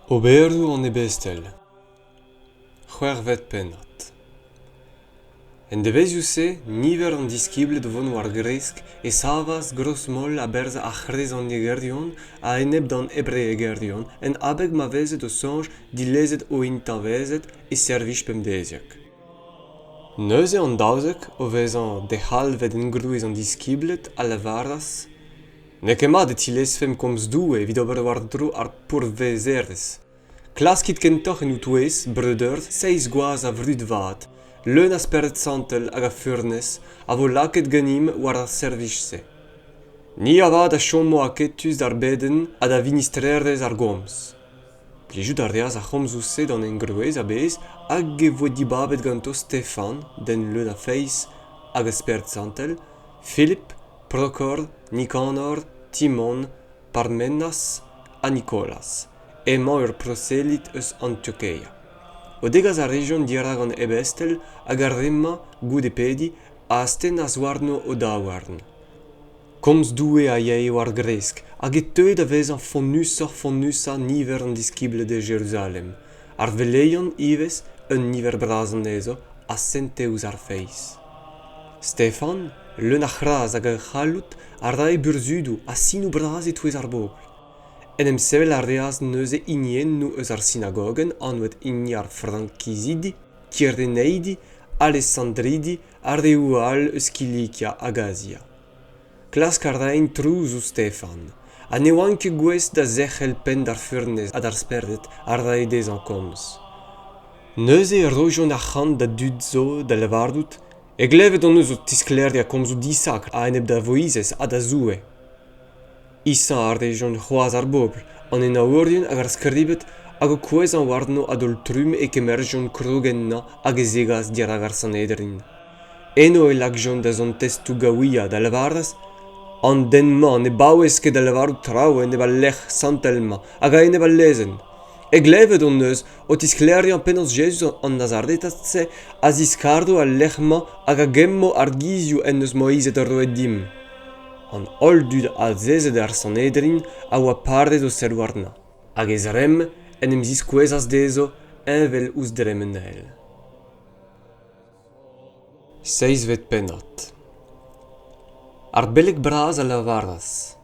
Oberoù an ebestel c'hwec'hvet pennad En devezhioù-se niver an diskibled o vont war-gresk e savas gros-moll a-berzh ar c'hrezonegerion a-enep d'an hebreegerion en abeg ma vezed o soñj dilezet o intañvezed e servij pemdeziek. Neuze an daouzek, o vezañ dec'halvet engrouez an diskibled, a lavaras N'eo ket mat e tilezfemp komz Doue evit ober war-dro ar pourvezerezh. Klaskit kentoc'h en ho-touez, breudeur, seizh gwaz a vrud vat, leun a spered santel hag a furnez, a vo lakaet ganimp war ar servij-se. Ni avat a chomo aketus d'ar bedenn ha da vinistrerezh ar gomz. Plijout a reas ar c'homzoù-se d'an engroez a-bezh hag e voe dibabet ganto Stefan, den leun a feiz hag a spered santel, Philip Prokhor, Nikonor, Timon, Parmenas ha Nikolas emañ ur proselit eus Antiokeia. O degas a rejont dirak an ebestel hag ar re-mañ goude pediñ a astennas warno o daouarn. Komz Doue a yae war gresk hag e teue da vezañ fonnusoc'h-fonnusañ niver an diskibled e Jeruzalem, ar veleion ivez un niver bras anezho a sente ouzh ar feiz. Stefan, leun a c'hras hag a c'halloud, a rae burzhudoù ha sinoù bras e-touez ar bobl. En em sevel a reas neuze hiniennoù eus ar sinagogenn anvet hini ar Frankizidi, Kyireneidi, Alesandridi ha reoù all eus Kilikia hag Azia. Klask a raent trouz ouzh Stefan ha ne oant ket gouest da zerc'hel penn d'ar furnez ha d'ar spered a rae dezhañ komz. Neuze e rojont arc'hant da dud zo da lavarout e glevet hon eus o tisklêriañ komzoù disakr a-enep da Voizez ha da Zoue. Isañ a rejont c'hoazh ar bobl, an henaourien hag ar skribed hag o kouezhañ warno a-daol-trumm e kemerjont krog ennañ hag e zegas dirak ar Sanhedrin. Eno e lakjont da zont testoù gaouiañ da lavaret an den-mañ ne baouez ket da lavarout traoù enep al lec'h santel-mañ hag a-enep al lezenn. E glevet hon eus o tisklêriañ penaos Jezuz an Nazaretad-se a ziskardo al lec'h-mañ hag a gemmo ar gizioù en deus Moized roet dimp. An holl dud azezet er Sanhedrin a oa paret o serr warnañ, hag e zremm en em ziskouezas dezho heñvel ouzh dremen-eil. Seizvet pennad Ar beleg bras a lavaras: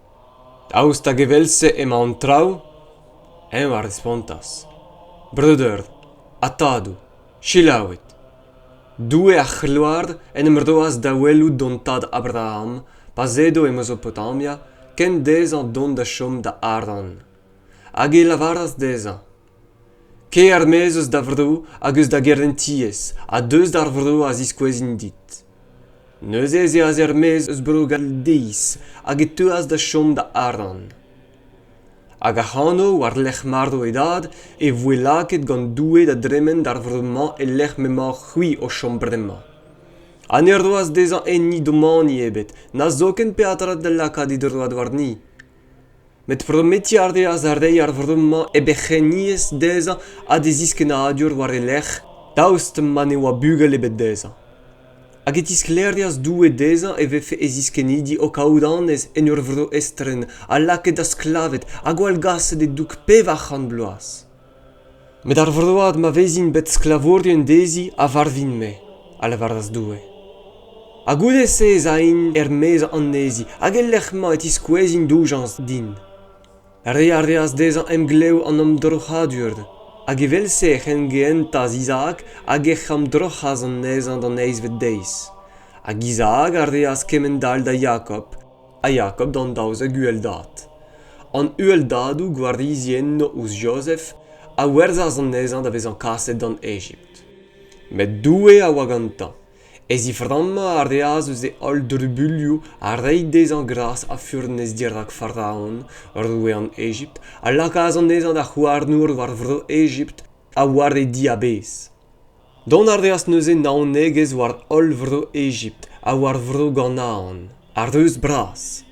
Daoust hag evel-se emañ an traoù? Eñ a respontas: Breudeur ha tadoù, selaouit. Doue ar c'hloar en em roas da welout hon tad Abraham pa'z edo e Mezopotamia kent dezhañ dont da chom da Haran. Hag e lavaras dezhañ: kae er-maez eus da vro hag eus da gerentiezh ha deus d'ar vro a ziskouezin dit neuze ez eas er-maez eus bro galdeiz hag e teuas da chom da aran hag ac'hano war-lerc'h marv e dad e voe lakaet gant doue da dremen d'ar vro-mañ e-lec'h m'emañ c'hwi o chom bremañ ha ne roas dezhañ enni domani ebet na zoken peadra da lakaat e droad warni Met prometiñ a reas da reiñ ar vro-mañ e berc'henniezh dezhañ ha d'e ziskennadur war e lerc'h daoust ma ne oa bugel ebet dezhañ. Hag e tisklêrias Doue dezhañ e vefe e ziskennidi o kaout annez en ur vro estren ha lakaet da sklaved ha gwallgaset e-doug pevar c'hant bloaz. Met ar vroad ma vezin bet sklavourien dezhi a varvin-me, a lavaras Doue. Ha goude-se ez ain er-maez anezhi hag e-lec'h-mañ e tiskouezin doujañs din. Reiñ a reas dezhañ emglev an omdroc'hadur, hag evel-se e c'hengehentas Izaak hag ec'h amdroc'has anezhañ d'an eizhvet deiz. Hag Izaak a reas kement-all da Jakob. a ya kop d'an daouzek uheldad an uheldadoù gwarizienn ouzh jozef a werzhas anezhañ da vezañ kaset d'an egipt met doue a oa gantañ e ziframmañ a reas eus e holl drubuilhoù ha reiñ dezhañ gras ha furnez dirak faraon roue an egipt a lakaas anezhañ da c'houarnour war vro egipt ha war e diabaez. Dont a reas neuze naonegezh war holl vro Egipt ha war vro Ganaan, ar reuz bras.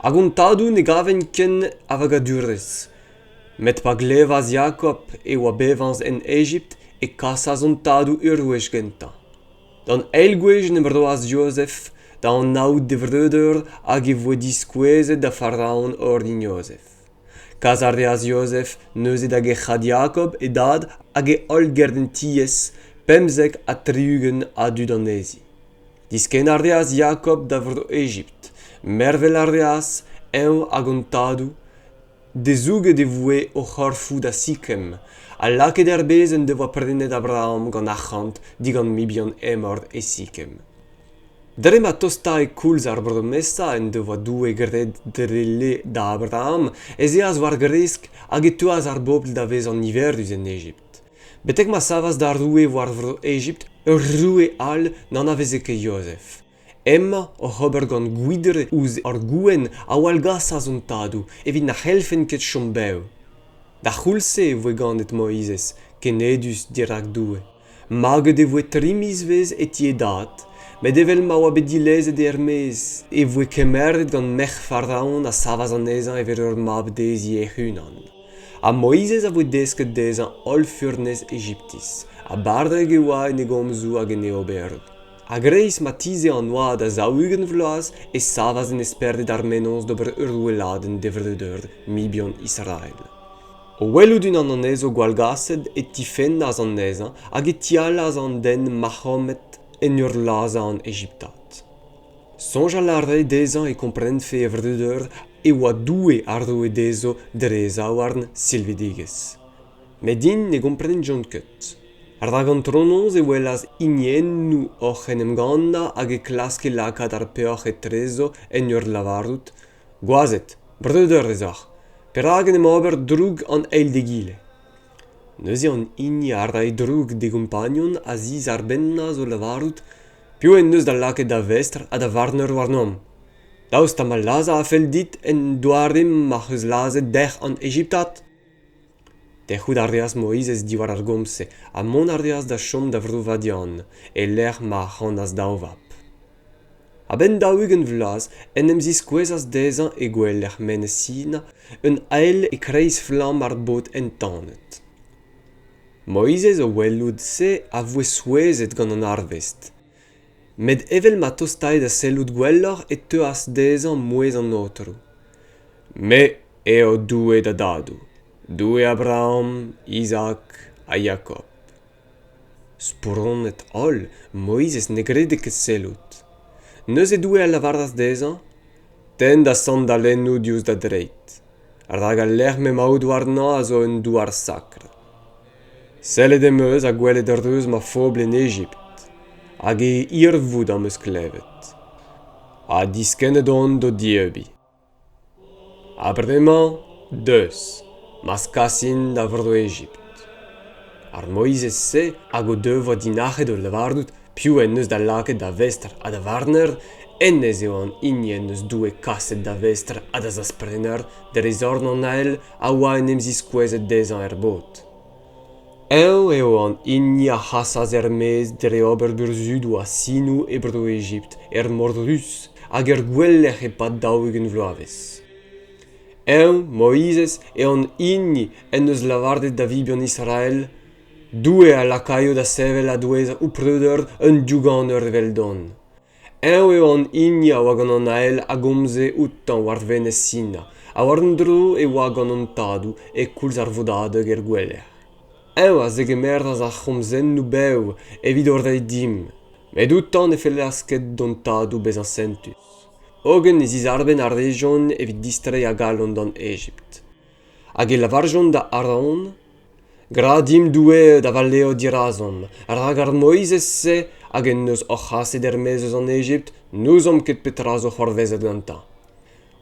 Hag hon tadoù ne gavent ken a vagadurezh. Met pa glevas Jakob e oa bevañs en Egipt e kasas hon tadoù ur wech gentañ. D'an eil gwech en em roas Jozef da anaout e vreudeur hag e voe diskouezet da Faraon orin Jozef. Kas a reas Jozef neuze da gerc'hat Jakob, e dad, hag e holl gerentiezh, pemzek ha tri-ugent a dud anezhi. Diskenn a reas Jakob da vro Egipt. Mervel a reas, eñ hag an tadoù, dezouget e voe o c'horfoù da Sikem, ha lakaet er bez en devoa prenet Abraham gant arc'hant digant mibien Hemor e Sikem. Dre ma tostae koulz ar bromesa en devoa Doue graet dre le da Abraham ez eas war-gresk hag e teuas ar bobl da vezañ niverus en Egipt. Betek ma savas da roue war vro Egipt ur roue all n'anaveze ket Jozef. Hemañ oc'h ober gant gwidre ouzh ar gouenn a wallgasas hon tadoù evit na c'hellfent ket chom bev. D'ar c'houlz-se e voe ganet Moizez, kenedus dirak Doue. Maget e voe tri mizvezh e ti e dad, met evel ma oa bet dilezet er-maez e voe kemeret gant merc'h Faraon a savas anezhañ evel ur mab dezhi hec'h-unan. Ha Moizez a voe desket dezhañ holl furnez Egiptiz, ha barrek e oa en e gomzoù hag en e oberoù. A-greiz ma tize an oad a zaou-ugent vloaz e savas en esperded ar mennozh d'ober ur weladenn d'e vreudeur, mibien Israel. O welout unan anezho gwallgaset e tifennas anezhañ hag e tihallas an den mac'homet en ur lazhañ an Egiptad. Soñjal a rae dezhañ e komprenfe e vreudeur e oa Doue a roe dezho dre e zaouarn silvidigezh. Met int ne gomprenjont ket. Rak antronoz e welas hiniennoù oc'h en em gannañ hag e klaske lakaat ar peoc'h etrezo en ur lavarout Gwazed, breudeur ez oc'h, perak en em ober droug an eil d'egile ? Neuze an hini a rae droug d'e gompagnon a ziz ar bennaz o lavarout piv en deus da lakaet da vestr ha da varner warnomp. Daoust ha ma lazhañ a fell dit en doare m'ac'h eus lazhet dec'h an Ejiptad ? Tec'hout a reas Moizez diwar ar gomz-se ha mont a reas da chom da Vro-Vadian, e-lec'h ma ac'hanas daou vab. A-benn daou-ugent vloaz en em ziskouezas dezhañ e gouelec'h Menez Sina un ael e-kreiz flamm ar bod entanet. Moizez o welout se a voe souezhet gant an arvest. met evel ma tostae da sellout gwelloc'h e teuas dezhañ mouezh an aotrou me eo doue da dadoù doue abraham izak ha jakob spronnet-holl moizez ne grede ket sellout neuze doue a lavaras dezhañ tenn da sandalennoù diouzh da dreid rak al lec'h m'emaout warnañ a zo un douar sakr Sellet em eus ha gwelet reuz ma fobl en Egipt, hag e hirvoud am eus klevet. Ha diskennet on d'o dieubiñ. Ha bremañ, deus, m'az kasin da Vro-Egipt. Ar Moizez-se hag o devoa dinac'het o lavarout piv en deus da lakaet da vestr ha da varner, hennezh eo an hini en deus Doue kaset da vestr ha da zasprenner dre zorn an ael a oa en em ziskouezet dezhañ er bod. Eñ eo an hini a c'hasas er-maez dre ober burzhudoù ha sinoù e Bro-Egipt er Mor Ruz hag er gouelec'h e-pad daou-ugent vloavezh. Eñ, Moizez, eo an hini en deus lavaret da vibien Israel Doue a lakaio da sevel a-douez ho preudeur un douganeur eveldon. eñ eo an hini a oa gant an ael a gomze outañ war venez sina ha war-un-dro e oa gant an tadoù e-koulz ar vodadeg er gouelec'h eñ a zegemeras ar c'homzennoù bev evit o reiñ dimp met outañ ne fellas ket d'hon tadoù bezañ sentus hogen e zizarbenn a rejont evit distreiñ a galon d'an egipt hag e lavarjont da Aaron, Gra dimp Doue da valeo dirazomp, rak ar Moizez-se hag en deus hoc'h aset er-maez eus an Ejipt n'ouzomp ket petra zo c'hoarvezet gantañ.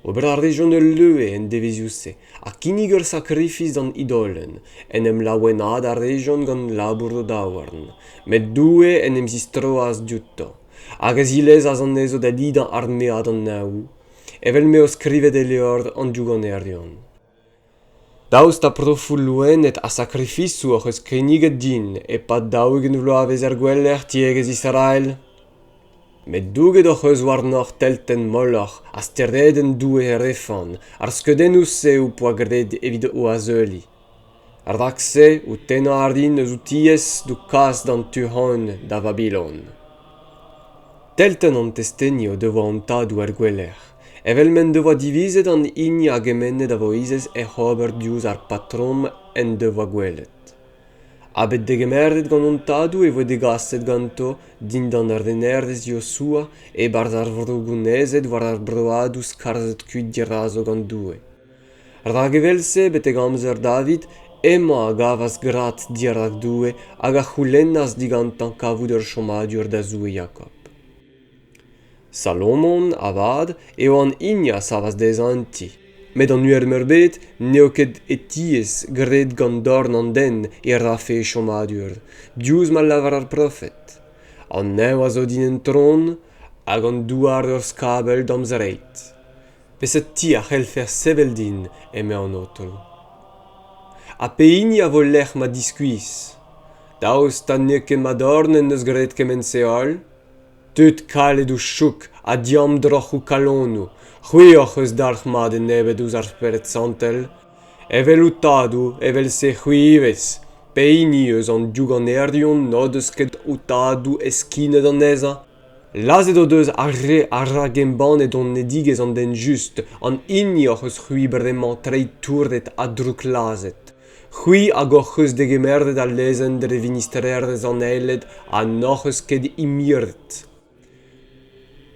Ober a rejont ul leue en devezhioù-se ha kinnig ur sakrifis d'an idolenn. En em laouenaat a rejont gant labour o daouarn, met Doue en em zistroas diouto hag a zilezas anezho da lidañ armead an Neñv. evel m'eo skrivet e levr an douanerion. Daoust ha profoù loened ha sakrifisoù hoc'h eus kinniget din e-pad daou-ugent vloavezh er gweler tiegezh Israel? Met douget hoc'h eus warnoc'h teltenn molloc'h ha steredenn doue Refan, ar skeudennoù-se ho poa graet evit o azeuliñ. Rak-se ho tennañ a rin eus ho tiez d'ho kas d'an tu-hont da Vabilon. Teltenn an testeni o devoa hon tadoù er gouelec'h, evel m'en devoa divizet an hini a gemenne da Voizez hec'h ober diouzh ar patrom en devoa gwelet. Ha bet degemeret gant hon tadoù e voe degaset ganto dindan ur renerez Yosua e-barzh ar vro gounezet war ar broadoù skarzhet kuit dirazo gant Doue. Rak evel-se, betek amzer David, hemañ a gavas grad dirak Doue hag a c'houlennas digantañ kavout ur chommadur da Zoue Jakob. Salomon, avat, eo an hini a savas dezhañ un ti. Met an uhelmeurbet n'eo ket hetiez graet gant dorn an den e rafe e chommadur, diouzh ma lavar ar profed. An neñv a zo din un tron hag an douar ur skabell da'm zreid. Peseurt ti a c'hellfer sevel din, eme an aotrou ? Ha pehini a vo lec'h ma diskuizh ? Daoust ha n'eo ket ma dorn en deus graet kement-se holl ? Tud kalet o chouk ha diamdroc'h o kalonoù, c'hwi hoc'h eus dalc'hmat enebet ouzh ar Spered Santel ? Evel ho tadoù, evel-se c'hwi ivez, pehini eus an diougannerion n'o deus ket ho tadoù eskinet anezhañ ? lazhet o deus ar re a ragembanne donedigezh an den just an hini hoc'h eus c'hwi bremañ treiñ touret ha drouklazhet c'hwi hag hoc'h eus degemeret al lezenn dre vinistrerezh an aeled ha n'hoc'h eus ket imiret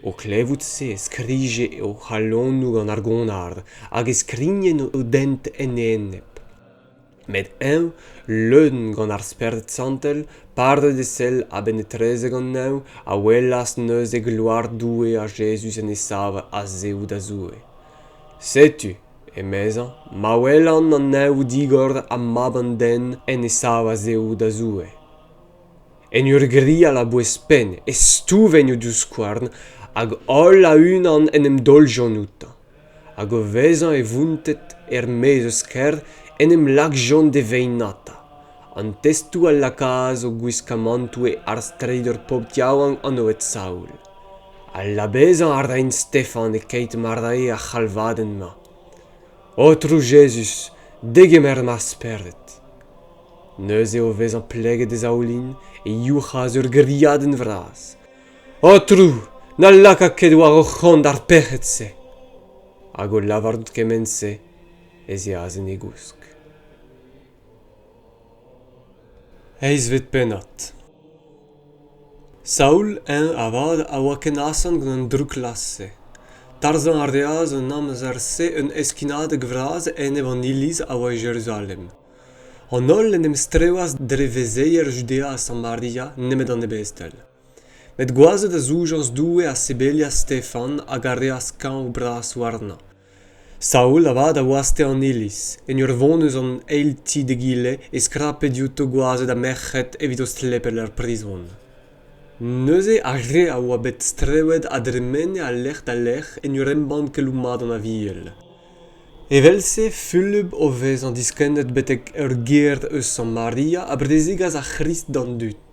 o klevout se e skrije o c'halonoù gant ar gonar hag e skrignen o dent en e enep met eñ leun gant ar spered santel padet e sell a-benn etrezek an neñv a welas neuze gloar Doue ha Jezuz en e sav a-zehoù da Zoue setu emezañ ma welan an neñv digor ha mab an den en e sav a-zehoù da Zoue en ur grial a-bouez-penn e stouvenn o divskouarn hag holl a-unan en em daoljont outañ hag o vezañ e vounted er-maez eus kêr en em lakjont d'e vaenata an testoù a lakaas o gwiskamantoù e arz treidor pobl yaouank an oed saoul ha labezañ a raent stefan e-keit ma rae ar c'halvadenn-mañ aotrou jezuz degemer ma spered neuze o vezañ pleget e zaoulin e youc'has ur griadenn vras Aotrou, na laka ket war ho c'hont ar pec'hed-se. Hag o lavarout kement-se, ez eas en e gousk. Eizvet pennad Saoul, eñ avat, a oa ken asant gant an drouklazh-se. Tarzhañ a reas an amzer-se un heskinadeg vras enep an iliz a oa e Jeruzalem. An holl en em strewas dre vezeier Judea ha Samaria nemet an ebestel. Met gwazed a zoujas Doue ha sebelias Stefan hag a reas kañv bras warnañ. Saul avat a waste an iliz, en ur vont eus an eil ti d'egile e skrape diouto gwazed ha merc'hed evit o slepel er prizon. Neuze ar re a oa bet strewet a dremene a-lec'h da lec'h en ur embann keloù mat an Aviel. Evel-se Fulup o vezañ diskennet betek ur gêr eus Samaria a brezegas ar C'hrist d'an dud.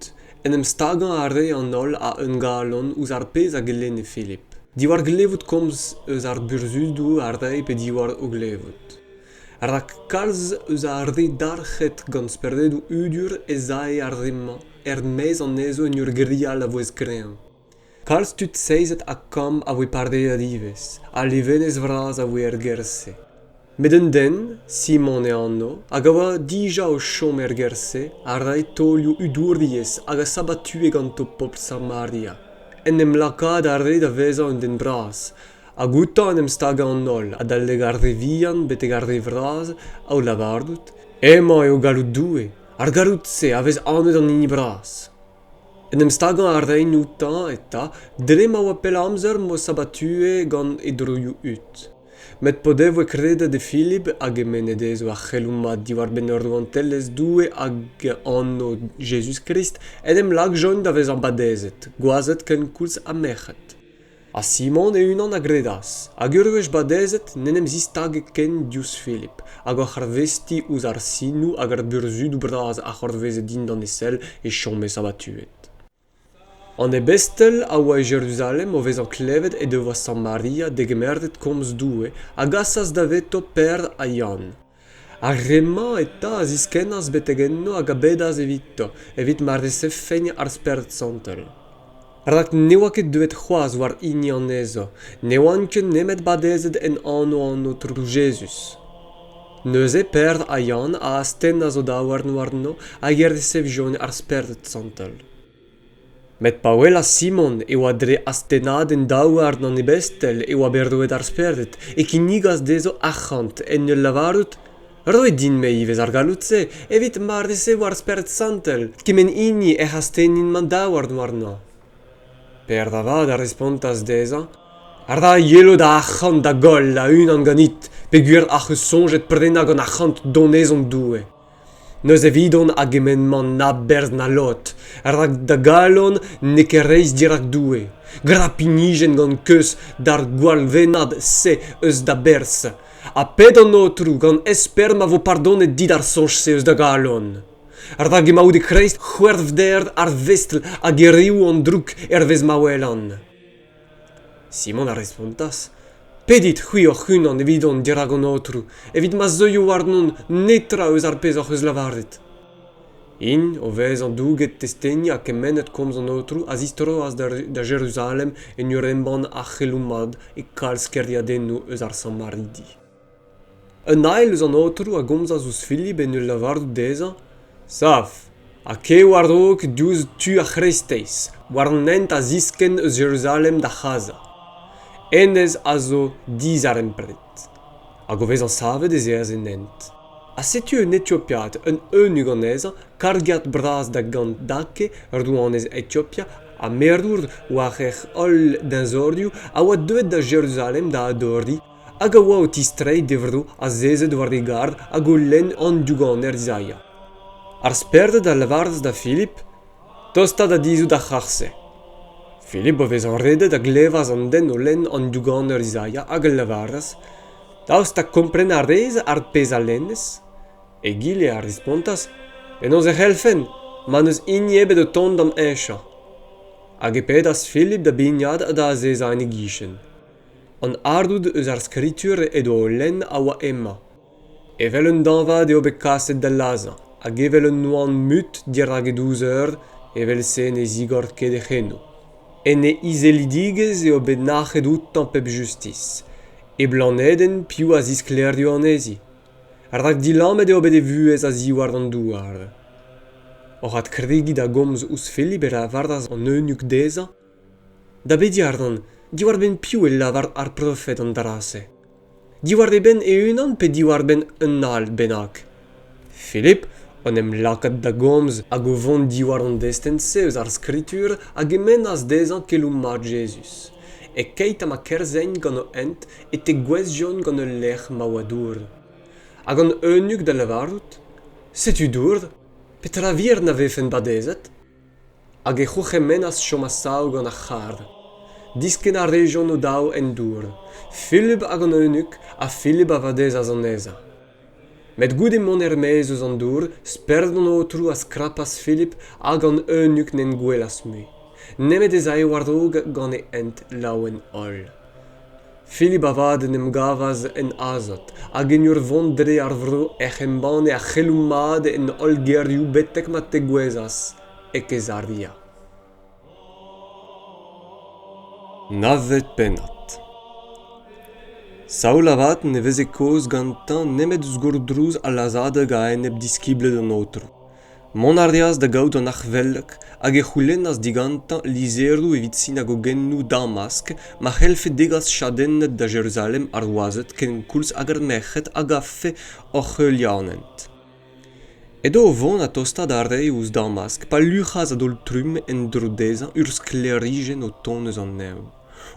En em stagañ a rae an holl a-un galon ouzh ar pezh a gelenne Filip, diwar glevout komz eus ar burzhudoù a rae pe diwar o glevout. Rak kalz eus ar re dalc'het gant speredoù udur ez ae ar re-mañ er-maez anezho en ur grial a-vouezh kreñv. kalz tud seizet ha kant a voe pardaet ivez ha levenez vras a voe er gêr-se met un den simon e anv hag a oa dija o chom er gêr-se a rae taolioù udouriezh hag a sabatue ganto pobl samaria en em lakaat a rae da vezañ un den bras hag outañ en em stagañ an holl adalek ar re vihan betek ar re vras o lavarout hemañ eo galloud Doue ar galloud-se a vez anvet an hini bras En em stagañ a raen outañ eta dre ma oa pell amzer m'o sabatue gant e droioù-hud. Met p'o devoe kredet e Philip hag e mene dezho ar c'heloù-mat diwar-benn ur rouantelezh Doue hag anv Jezuz-Krist, en em lakjont da vezañ badezet, gwazed kenkoulz ha merc'hed. ha Simon e-unan a gredas hag ur wech badezet n'en em zistage ken diouzh Philip hag oc'h arvestiñ ouzh ar sinoù hag ar burzhudoù bras a c'hoarveze dindan e sell e chome sabatuet. An ebestel a oa e Jeruzalem o vezañ klevet he devoa Samaria degemeret komz Doue a gasas daveto Pêr ha Yann. Ar re-mañ eta a ziskennas betek enno hag a bedas evito, evit ma resevfent ar spered santel. Rak ne oa ket deuet c'hoazh war hini anezho, ne oant ket nemet badezet en anv an Aotrou Jezuz. Neuze Peder ha Yann a astennas o daouarn warno hag e resevjont ar spered santel. Met pa welas Simon e oa dre astennadenn daouarn an ebestel e oa bet roet ar spered e kinnigas dezho arc'hant en ul lavarout roit din-me ivez ar galloud-se evit ma resev ar Spered Santel kement hini ec'h astennin ma daouarn warnañ. Pêr da vat a respontas dezhañ ra yelo da arc'hant da goll a-unan ganit peogwir ac'h eus soñjet prenañ gant arc'hant Donezon Doue. N'eus evidon a gement-mañ na berzh na lod, rak da galon n'eo ket reizh dirak Doue. Gra pinijenn gant keuz d'ar gwallvennad-se eus da berzh, ha pet an Aotrou gant espern ma vo pardonet dit ar soñj-se eus da galon. Rak emaout e-kreist c'hwervder ar vestr hag hiriv an droug hervez ma welan. Simon a respontas, Pedit c'hwi hoc'h-unan evidon dirak an Aotrou, evit ma zeuio warnon netra eus ar pezh hoc'h eus lavaret. Int, o vezañ douget testeni ha kemennet komz an Aotrou, a zistroas da Jeruzalem en ur embann ar c'heloù mat e kalz kêriadennoù eus ar Samaridi. Un ael eus an aotrou a gomzas ouzh Filip en ul lavarout dezhañ Sav ha kae war-raok diouzh tu ar c'hreisteiz, war an hent a ziskenn eus Jeruzalem da C'haza. Hennezh a zo dizarempred. Hag o vezañ savet ez eas en hent. Ha setu un Etiopiad, un eunuch anezhañ, kargiad bras da Gandake, rouanez Etiopia ha merour war hec'h holl deñzorioù, a oa deuet da Jeruzalem da adoriñ hag a oa o tistreiñ d'e vro azezet war e garr hag o lenn an douganer Zaia. Ar sperded a lavaras da Filip tostañ da dizhout ar c'harr-se. Filip, o vezañ redet, a glevas an den o lenn an douganer Zaia hag a lavaras daoust ha kompren a rez ar pezh a lennez? Egile a respontas penaos e c'hellfen ma n'eus hini ebet o tont d'am heñchañ. Hag e pedas Filip da bignat ha da azezañ en e gichen. an ardoud eus ar skritur he doa o lenn a oa hemañ evel un dañvad eo bet kaset da lazhañ hag evel un oan mut dirak e douz eur evel-se ne zigor ket hec'h eno en e izelidigezh eo bet nac'het outañ pep justis e blanedenn piv a zisklaerio anezhi rak dilammet eo bet e vuhez a-ziwar an douar oc'h adkregiñ da gomz ouzh Filip e lavaras an eunuch dezhañ Da Bediardon, diwar-benn piv e lavar ar profed an dra-se? Diwar e benn e-unan pe diwar-benn un all bennak? Philip en em lakaat da gomz hag o vont diwar an destenn-se eus ar Skritur a gemennas dezhañ keloù mat Jezuz. E-keit ha ma kerzhent gant o hent e tegouezhjont gant ul lec'h ma oa dour. Hag an eunuch da lavarout, Setu dour, petra vir na vefen badezet? hag e c'hourc'hemennas chom a-sav gant ar c'harr. Diskenn a rejont o-daou en dour, Filip hag an eunuch, ha Filip a vadezas anezhañ. Met goude mont er-maez eus an dour, spered an aotrou a skrapas Filip hag an eunuch n'en gwelas mui, nemet ez ae war-raok gant e hent laouen-holl. Philip avat en em gavas en azot hag en ur vont dre ar vro ec'h embanne ar c'heloù mat en holl gêrioù betek ma tegouezhas e Kezaria. Navet pennad Saul avat ne veze kaoz gantañ nemet ouzh gourdrouz al lazhadeg a-enep diskibled an Aotrou. Mont a reas da gaout an arc'hvelog hag e c'houlennas digantañ lizheroù evit sinagogennoù Damask ma c'hellfe degas chadenned da Jeruzalem ar wazed kenkoulz hag ar merc'hed a gavfe hoc'h heulianed. Edo o vont ha tostaat a rae ouzh Damask pa luc'has a-daol-trumm en-dro dezhañ ur sklêrijenn o tont eus an neñv.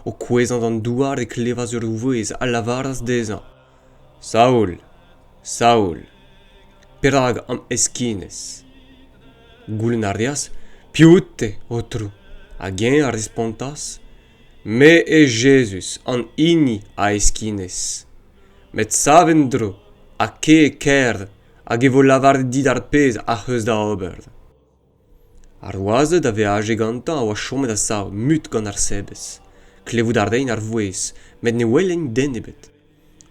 O kouezhañ d'an douar e klevas ur vouezh a lavaras dezhañ Saoul, Saoul, perak am heskinez? Goulenn a reas piv out-te, Aotrou? Hag eñ a respontas, Me eo Jezuz, an hini a heskinez. Met sav en-dro ha kae e kêr hag e vo lavaret dit ar pezh ac'h eus da ober. Ar wazed a veaje gantañ a oa chomet a-sav mut gant ar sebez. Klevout a raent ar vouezh met ne welent den ebet.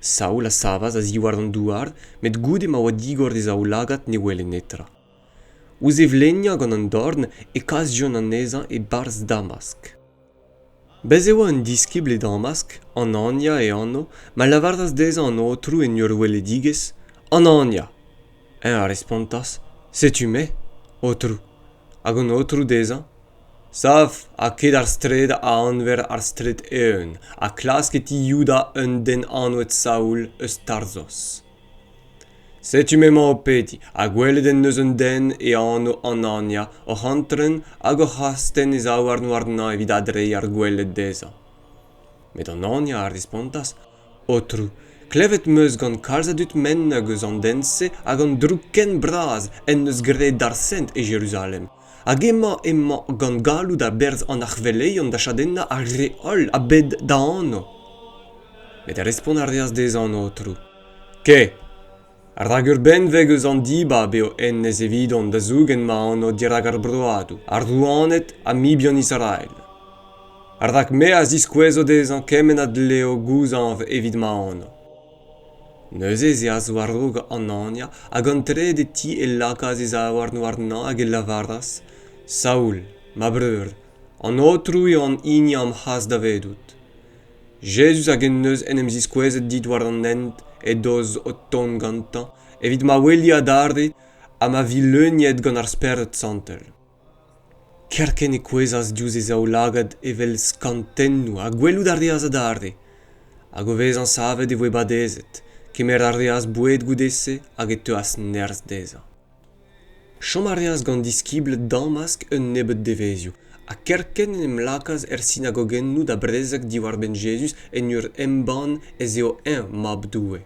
Saoul a savas a-ziwar an douar met goude ma oa digor d'e zaoulagad ne wele netra. Ouzh e vleniañ gant an dorn e kas John anezhañ e-barzh damask. Bez' e oa un diskibl e Damask, Anania e anv, ma lavaras dezhañ an Aotrou en ur weledigezh, Anania. Eñ a respontas, Setu-me, Aotrou. Hag an Aotrou dezhañ, Sav ha ket ar straed a anver ar straed eeun, ha klask e ti Youda un den anvet Saoul eus Tarzos. Setu m'emañ o pediñ, ha gwelet en deus un den e anv Anania oc'h antren hag oc'h astenn e zaouarn warnañ evit adreiñ ar gweled dezhañ. Met Anania a respontas, Aotrou, klevet 'm eus gant kalz a dud menn hag eus an den-se hag an droug ken bras en deus graet d'ar Sent e Jeruzalem. Hag emañ emañ gant galloud a-berzh an arc'hveleion da chadennañ ar re holl a-bed da anv. Met respont a reas dezhañ an aotrou. Ke. Rak ur benveg eus an dibab eo hennezh evidon da zougen ma anv dirak ar broadoù, ar rouaned ha mibien Israel. Rak me a ziskouezo dezhañ kement a dleo gouzañv evit ma anv. Neuze ez eas war-raok an Ania hag an trede ti e lakaas e zaouarn warnañ hag e lavaras: Saoul, ma breur, an Aotrou eo an hini am c'has davedout. Jezuz hag en deus en em ziskouezet dit war an hent edoz o tont gantañ evit ma weli adarre ha ma vi leuniet gant ar Spered Santel. kerkent e kouezhas diouzh e zaoulagad evel skantennoù ha gwelout a reas adarre hag o vezañ savet e voe badezet kemer a reas boued goude-se hag e teuas nerzh dezhañ chom a reas gant diskibl damask un nebeud devezhioù ha kerkent en em lakaas er sinagogennoù da brezeg diwar-benn Jezuz en ur embann ez eo eñ Mab Doue.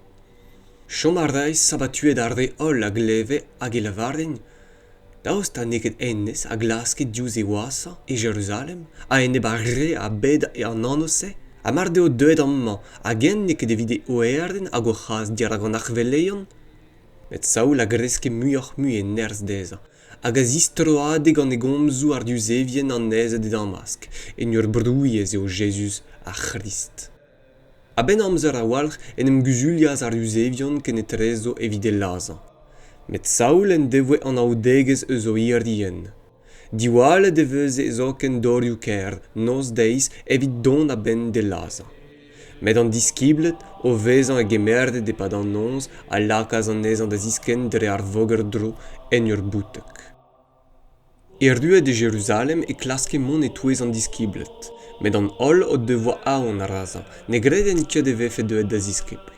Chom a rae sabatuet ar re holl a gleve hag e lavarent Daoust ha n'eo ket hennezh a glaske diouzh e wazhañ e Jeruzalem a-enep ar re a-bed an anv-se? Ha mar deo deuet amañ hag eñ n'eo ket evit e oerenn hag o c'has dirak an arc'hveleien? Met Saul a greske muioc'h-mui e nerzh dezhañ hag a zistroade gant e gomzoù àr Yuzevien annezet e Damask en ur brouilh ez eo Jezuz ar C'hrist. A-benn amzer a-walc'h en em guzulias ar Yuzevion kenetrezo evit e lazhañ. Met Saul en devoe anaoudegezh eus o irienn. Diwallet e veze zoken dorioù-kaer noz-deiz evit dont a-benn d'e lazhañ. Met an diskibled, o vezañ e-gemerzhet e-pad an noz, a lakaas anezhañ da ziskenn dre ar voger-dro en ur bouteg. Erruet e Jeruzalem e klaske mont e-touez an diskibled, met an holl o devoa aon razañ ne gredent ket e vefe deuet da ziskibl.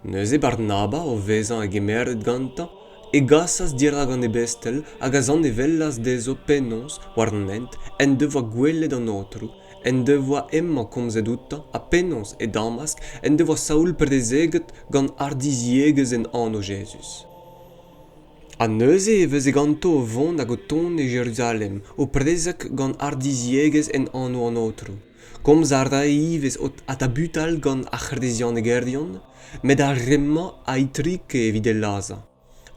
Neuze Barnaba, o vezañ hegemeret gantañ, e gasas dirak an ebestel hag a zanevellas dezho penaos, war an hent, en devoa gwelet an Aotrou, en devoa hemañ komzet outañ ha penaos, e Damask, en devoa Saul prezeget gant hardiziegezh en anv Jezuz. Ha neuze e veze ganto o vont hag o tont e Jeruzalem, o prezeg gant hardiziegezh en anv an Aotrou. Komz a rae ivez o tabutal gant ar c'hresianegerion, met ar re-mañ a itrike evit e lazhañ.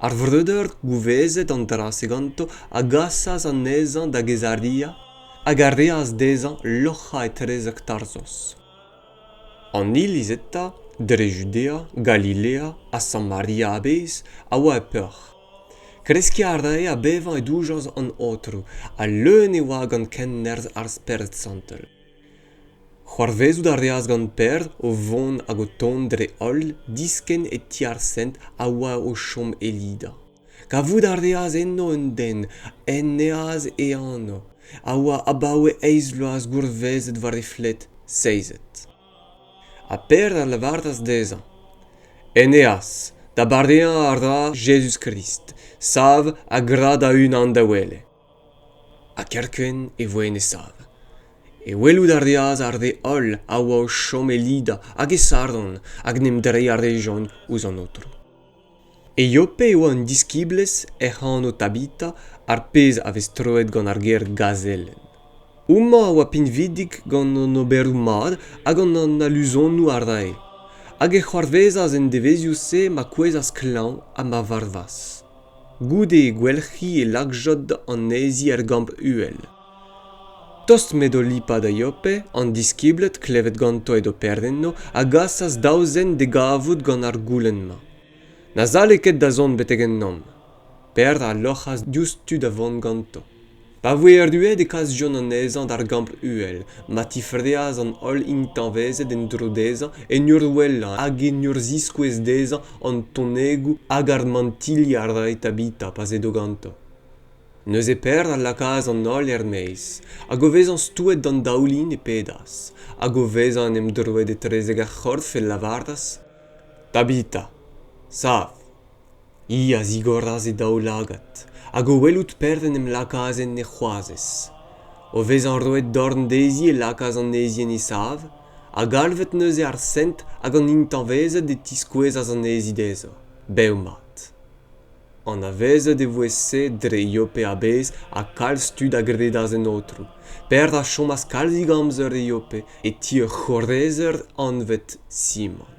Ar vreudeur gouvezet an dra-se ganto a gasas anezhañ da Gezaria hag a reas dezhañ loc'hañ etrezek Tarzos. An iliz eta, dre Judea, Galilea ha Samaria a-bezh, a oa e peoc'h. Kreskiñ a rae ha bevañ e doujañs an Aotrou, ha leun e oa gant kennerzh ar Spered Santel. C'hoarvezout a reas gant Pêr o vont hag o tont dre holl diskenn e ti ar Sent a oa o chom e Lida. Kavout a reas enno un den en neaz e anv, a oa abaoe eizh vloaz gourvezet war e fled seizet. Ha Pêr a lavaras dezhañ En eaz, da bareañ a ra Jezuz-Krist, sav ha gra da-unan da wele. Ha kerkent e voe en e sav. E welout a reas ar re holl a oa o chom e Lida hag e Saron hag en em dreiñ a rejont ouzh an Aotrou. Eiope eo an diskiblezh hec'h anv Tabita, ar pezh a vez troet gant ar ger gazelenn. Homañ a oa pinvidik gant an oberoù mat ha gant an aluzonoù a rae, hag e c'hoarvezas en devezhioù-se ma kouezhas klañv ha ma varvas. Goude e gwelc'hi e lakjod anezhi er Gamp-Uhel. Tost m'edo Lipa da Yope, an diskibled klevet ganto edo perdenno a gasas daou zen d'e gavout gant ar goulenn-mañ. Na sale ket da zont betek ennomp. Pêr a loc'has diouzhtu da vont ganto. Pa voe erruet e kasjont anezhañ d'ar gampr uhel, ma tifreas an holl intañvezed en-dro dezhañ en ur wellañ hag en ur ziskouez dezhañ an tonegoù hag ar mantilli a rae Tabita pa 'z edo ganto. neuze perd a lakaas an holl er-maez hag o vezañ stouet d'an daoulin e pedas hag o vezañ en em droet etrezek ar c'horf e lavaras tabita sav hi a zigoras e daoulagad hag o welout perd en em lakaas en he c'hoazez o vezañ roet dorn dezhi e lakaas anezhi en he sav ha galvet neuze ar sent hag an intañvezed e tiskouezas anezhi dezho bev-mat Anavezet e voe se dre Yope a-bezh ha kalz tud a gredas en aotrou. Perzh a chomas kalzik amzer e Yope e ti ur c'horezer anvet Simon.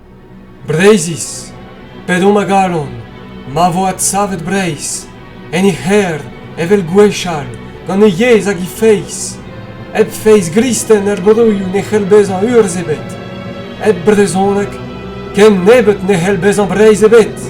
Breizhiz, p'edomp a galon, ma vo adsavet Breizh, en he c'hêr, evel gwechall, gant he yezh hag he feiz, hep feiz gristen er broioù ne c'hell bezañ urzh ebet, hep brezhoneg, ken nebeut ne c'hell bezañ Breizh ebet.